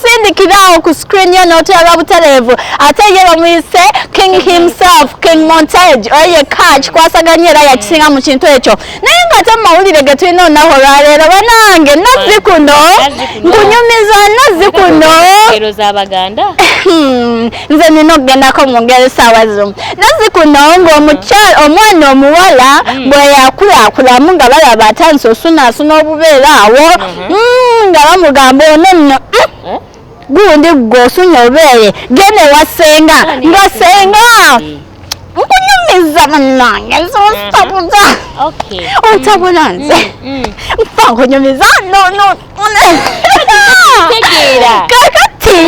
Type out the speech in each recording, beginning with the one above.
sindikirawo ku screen yo n'oterwa butereevu ate ye bamuyise king himself king montage oyo yekka kikwasaganya era yakisinga mu kintu ekyo naye nga ate mumawulire ge tulina olunaku olwaleero banange nazzi kuno nkunyumiza nazzi kuno hmm, nze nina okugendako mu ngeri saawa zimu nazzi kuno ng'omukyala omwana omuwala hmm. bwe yakulakulamu nga balaba atandise osunaasuna obubeera awo hmm. mm, nga bamugamba ono nno mm, eh? gundi ggwe osunye obeere genda ewa senga nga senga nkunyumiza munange zonsabuza ontabula nze nfa nkunyumiza kakati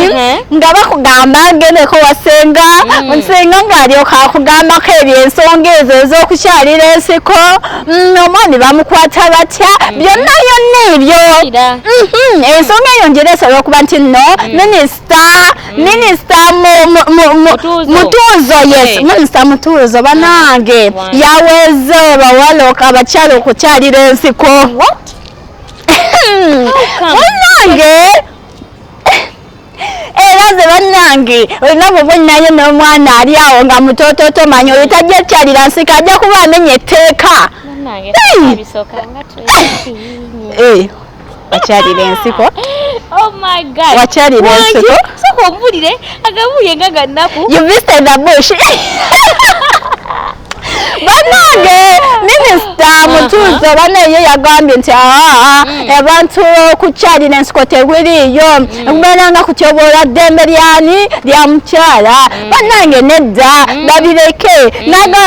nga bakugamba ngendeko wasenga nsenga ngaalyoka akugambako ebyo ensonga ezo ez'okukyalira ensiko mm, omwami bamukwata batya mm. byonna byonna ebyo mm-hmm. ensonga eyo njera esobola okuba nti no mm. minisita minisita mutuuzo yes eh. minisita mutuuzo banange yaweze bawala abakyala okukyalira ensiko munange era ze bannange olina bubonnayo n'omwana ali awo nga mutoototo manya oyo tajja kyalira nsika ajja kuba amenya etteeka wakyalira ensiko oh wakyalira ensiko soka ombulire agabuye nga gannaku you visited the bush banange minisita uh-huh. mutuuzo banaye yagambye nti aa mm. abantu okukyalira ensiko tebiriiyo okubeera mm. nga kutyoboola ddembe lyani lya mukyala mm. banange nedda babireke naga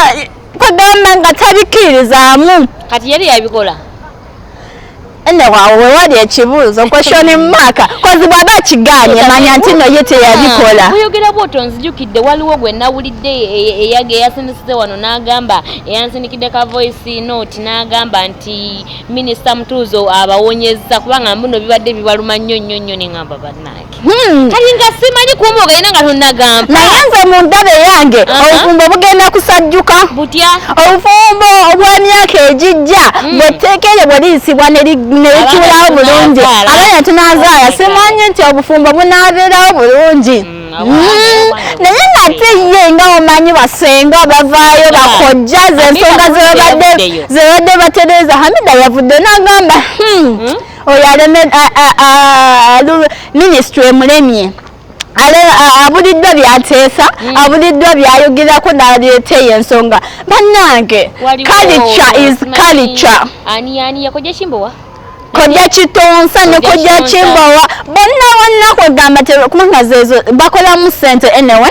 kugamba nga tabikirizaamu kati yali yabikola nne waawo we wali ekibuuzo kweshoni mumaka kozi bwaba akiganye manya nti no ye teyabikola ah, oyogera bwoto nzijukidde waliwo gwe nawulidde eyage eyasindisize wano n'agamba eyansindikidde ka voice note n'agamba nti minisita mutuuzo abawonyezza kubanga mbuno bibadde bibaluma nnyo nnyo nnyo ne ngamba bannaye Hmm. kati nga simanyi kumba ogenda nga tonagamba naye nze mu ndaba eyange obufumbo bugenda kusajjuka butya obufumbo obw'emyaka egijja hmm. bwetteeka eryo bwe liyisibwa ne likiwulawo bulungi abaana tunazaala simanyi nti obufumbo bunaabeerawo bulungi hmm. Mm-hmm. naye nate ye nga omanyi basenga bavaayo bakojja zensonga zebadde batereza hamida yavudde nagamba hmm, hmm? oyo aleme minisitule emulemye abuliddwa byateesa hmm. abuliddwa byayogerako naleeta eyo ensonga bannange kalica is kalica kojja kitonsa ne kojja kimbowa bonna bonna kwegamba kubanga zezo bakolamu sente anyway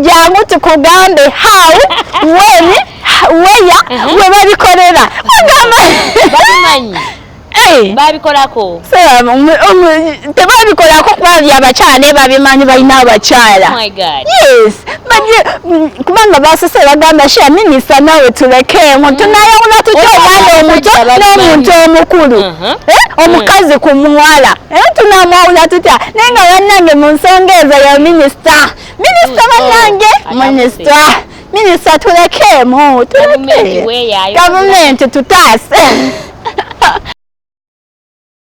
jangu tukugambe how when weya uh-huh. we babikolera babikolako tebabikolako kuba byabakyala babimanyi balina abakyala oh yes mm, kubanga basose bagamba sha minisa nawe tulekeemu mm. tunayawula tutya omwana omuto n'omuntu omukulu uh-huh. eh, omukazi ku muwala era tunamwawula tutya naye nga bannange mu nsonga ezo ya minisita minisita mm. bannange oh, minisita minisita tulekeemu tuleke gavumenti tutaase